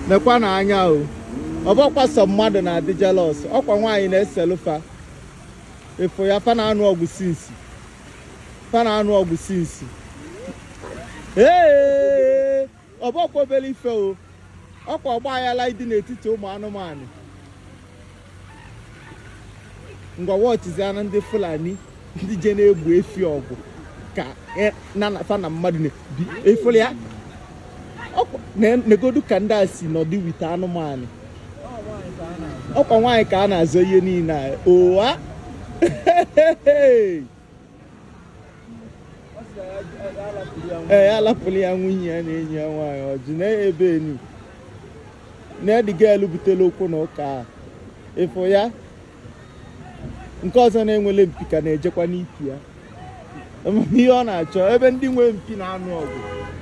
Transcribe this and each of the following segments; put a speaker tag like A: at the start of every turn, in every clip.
A: nekwanụ anya o ọ bụrọkwa sọ mmadụ na-adị jealous ọkwa nwaanyị na-eselụ fa ị fụ ya fa na-anụ ọgụ since fa na-anụ ọgụ since ee ọ bụrọkwa obere ife o ọkwa ọgba aghara ịdị n'etiti ụmụ anụmanụ ngwa watchizianụ ndị fulani ndị je na-egbo efi ọgụ ka e, na na- fa na mmadụ na-ebi ị fụlụ ya negodu ka ndị a si nọdụ with anụmanụ ọkwa nwaanyị ka a na-azọ ihe niile a ụwa ee ya lapụlụ ya nwunye ya na enyi ya nwaanyị ọjị na ebe enu na ediga elu butela okwu na ụka a ị fụ ya nke ọzọ na-enwelọ mpi ka na-ejekwa n'ipi ya Ama ihe ọ na-achọ ebe ndị nwe mpi na-anụ ọgụ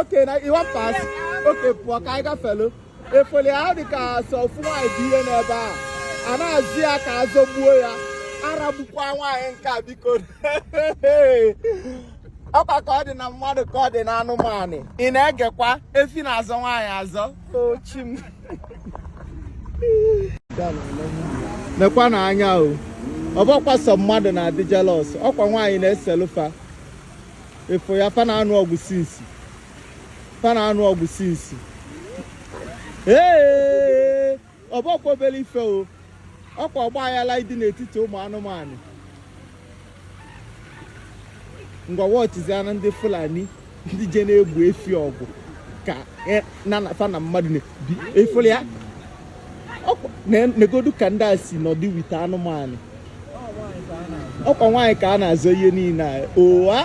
A: Okay, na you wan pass? Okay, pụọ ka anyị gafelụ. Ị fụlụ ya ọ dị ka sọ ofu nwaanyị dị ihe n'ebe a. A na-azọ ya ka azọgbuo ya. Aragbukwa nwaanyị nke a biko. Ọkwa ka ọ dị na mmadụ ka ọ dị na anụmanụ. Ị na-egekwa efi na-azọ nwaanyị azọ. O chi m. Nekwanụ anya o. Ọ bụrọkwa sọ mmadụ na-adị jealous. Ọkwa nwaanyị na-eselụ fa. ị fụ ya fa na-anụ ọgụ since fa na-anụ ọgụ since ee ọ bụrọkwa obere ife o ọkwa ọgba aghara dị n'etiti ụmụ anụmanụ ngwa watchizianụ ndị fulani ndị je na-egbo efi ọgụ ka e- na na- fa na mmadụ na-ebi ị fụlụ ya negodu ka ndị a si nọdụ with anụmanụ ọkwa nwaanyị ka a na-azọ ihe niile a ụwa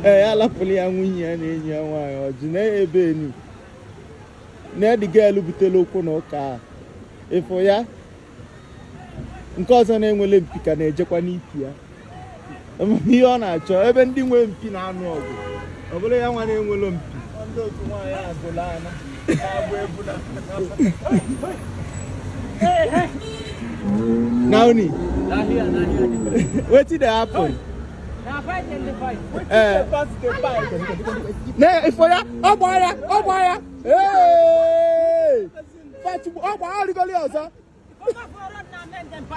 A: ee ya lapụlụ ya nwunye ya na enyi ya nwaanyị ọjị na-ebe enu na-ediga elu butela okwu na ụka a ị fụ ya nke ọzọ na-enwelọ mpi ka na-ejekwa n'ipi ya ihe ọ na-achọ ebe ndị nwe mpi na-anụ ọgụ ọ bụrụ ya nwa na-enwelọ mpi Nauni, wetin dey happen? Eh. Ne, ị fụ ya, ọgbọ ya, ọgbọ ya. Hey! ọkwa arịgoli ọzọ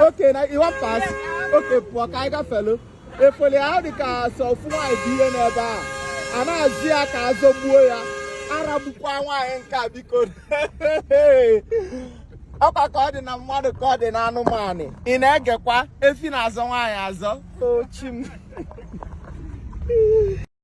A: okay na you wan pass okay pụọ ka anyị gafelu efele a ọ dị ka sọ ofu nwaanyị dị ihe n'ebe a a na-azọ ya ka azọgbuo ya aragbukwa nwaanyị nke a biko ọkwa ka ọ dị na mmadụ ka ọ dị na anụmanụ ị na-egekwa efi na-azọ nwaanyị azọ ochi m